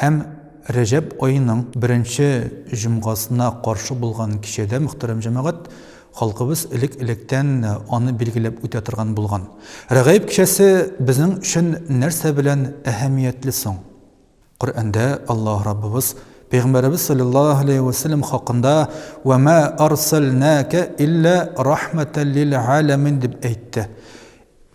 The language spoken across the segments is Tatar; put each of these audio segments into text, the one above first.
Һәм Рәҗәб аеның беренче җомгасына каршы булган кичәдә, мөхтәрәм җәмәгать, халкыбыз элек-электән аны билгеләп үтә торган булган. Рәгаиб кичәсе безнең өчен нәрсә белән әһәмиятле соң? Коръәндә Аллаһ Раббыбыз Пәйгамбәребез салләллаһу галәйһи вә сәлләм хакында Вә мә арсәлнәкә илля рахмәтәл лил галәмин дип әйтте.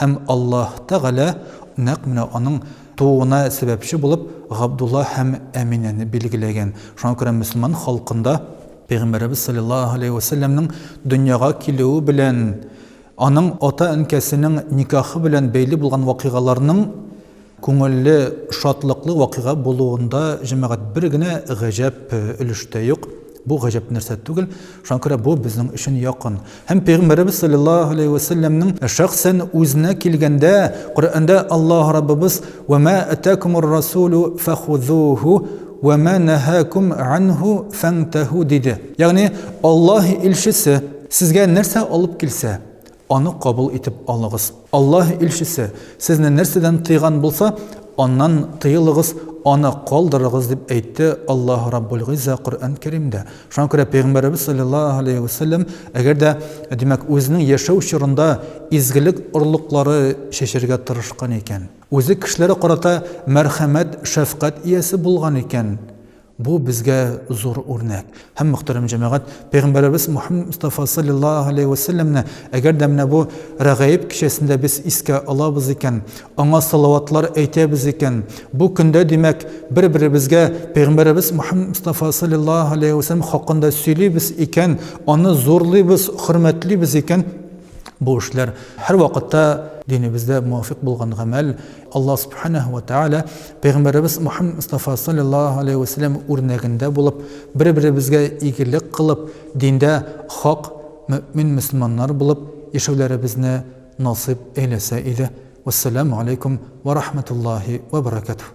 Һәм Аллаһ Тәгалә нәкъ менә аның тууына сәбәпче булып Габдулла һәм Әминәне билгеләгән. Шуңа күрә мөселман халкында Пәйгамбәребез салләллаһу галәйһи вә сәлләмнең дөньяга килүе белән аның ата-әнкәсенең никахы белән бәйле булган вакыйгаларның Күңелле, шатлыклы вакыйга булуында җәмәгать бер генә гаҗәп өлеш тә юк. Бу гаҗәп нәрсә түгел, шуңа күрә бу безнең өчен якын. Һәм Пәйгамбәребез салләллаһу галәйһи вә сәлләмнең шәхсән үзенә килгәндә, Коръәндә Аллаһ Раббыбыз, Вә мә атәкумур расулу фәхузуху, вә мә нәһәкум анһу фәнтәһу, диде. Ягъни, Аллаһ илчесе, сезгә нәрсә алып килсә, Аны кабул итеп алыгыз. Аллаһ Илчесе, сезне нәрсәдән тыйган булса, аннан тыелыгыз, аны калдырыгыз, дип әйтте Аллаһ Раббул-Гыйзза Коръән Кәримдә. Шуңа күрә Пәйгамбәребез салләллаһу галәйһи вә сәлләм, әгәр дә, димәк, үзенең яшәү чорында изгелек орлыклары чәчәргә тырышкан икән, үзе кешеләргә карата мәрхәмәт, шәфкать иясе булган икән, Бу безгә зур үрнәк. Һәм, мөхтәрәм җәмәгать, Пәйгамбәребез Мухаммад Мостафа салләллаһу галәйһи вә сәлләмне, әгәр дә менә бу Рәгаиб кичәсендә без искә алабыз икән, аңа салаватлар әйтәбез икән, бу көндә, димәк, бер-беребезгә Пәйгамбәребез Мухаммад Мостафа салләллаһу галәйһи вә сәлләм хакында сөйлибез икән, аны зурлыйбыз, хөрмәтлибез икән, бу эшләр һәрвакытта динебездә муафикъ булган гамәл. Аллаһ Сүбхәнәһү вә Тәгалә пәйгамбәребез Мөхәммәд Мостафа салләллаһу аләйһи вә сәлләм үрнәгендә булып, бер-беребезгә игелек кылып, диндә хак мөэмин мөселманнар булып яшәүләребезне насыйп әйләсә иде. Вәссәламү аләйкүм вә рахмәтуллаһи вә бәрәкәтүһ.